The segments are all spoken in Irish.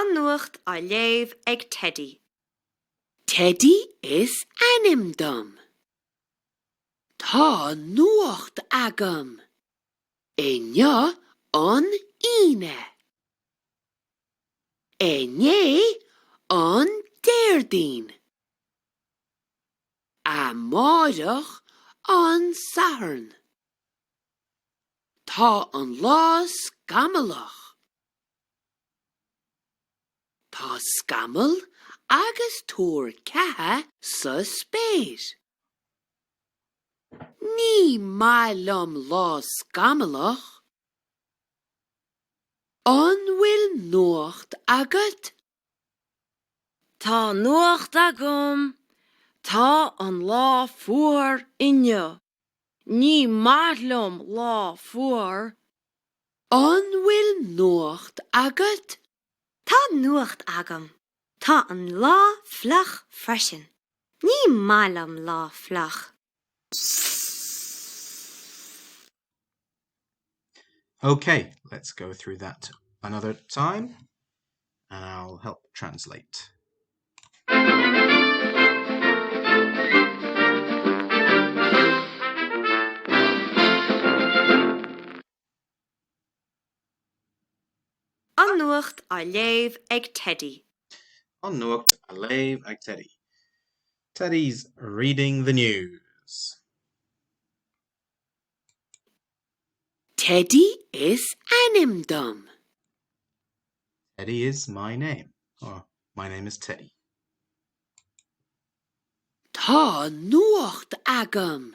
An Nuacht á léamh ag Teidí. Teidí is ainm dom. Tá nuacht agam. Inniu an Aoine. Inné, an Déardaoin. Amáireach, an Satharn. Tá an lá scamallach. Tá scamaill agus tuar ceatha sa spéir. Ní maith liom lá scamallach. An bhfuil nuacht agat? Tá nuacht agam! Tá an lá fuar inniu. Ní maith liom lá fuar. An bhfuil nuacht agat? Tá nuacht agam. Tá an lá fliuch freisin. Ní maith liom lá fliuch. OK, let's go through that another time and I'll help translate. An Nuacht á léamh ag Teddy. An Nuacht á léamh ag Teddy. Teddy's reading the news. Teddy is ainm dom. Teddy is my name. Or, My name is Teddy. Tá nuacht agam.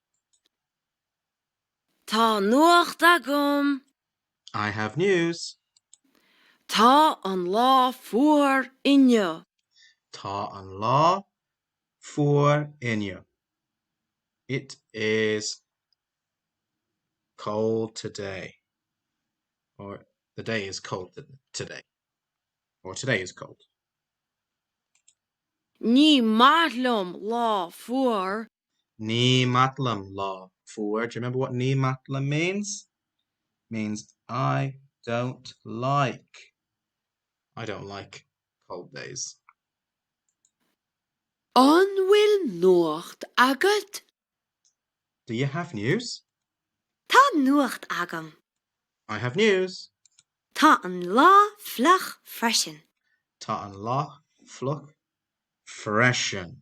Tá nuacht agam. I have news. Tá an lá fuar inniu. Tá an lá fuar inniu. It is cold today. Or The day is cold today. Or Today is cold. Ní maith liom lá fuar. Ní maith liom lá fuar. Do you remember what ní maith liom means? Means I don't like. I don't like cold days. An bhfuil nuacht agat? Do you have news? Tá nuacht agam. I have news. Tá an lá fliuch freisin. Tá an lá fliuch freisin.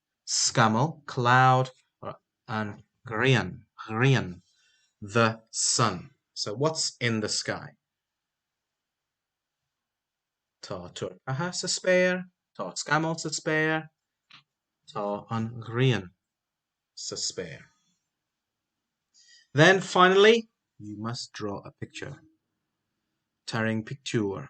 scamall, cloud, an ghrian, ghrian, the, sun, so what's in the sky? tá turcaithe sa spéir, tá scamaill sa spéir, tá an ghrian sa spéir. Then finally, you must draw a picture. Tarraing pictiúr.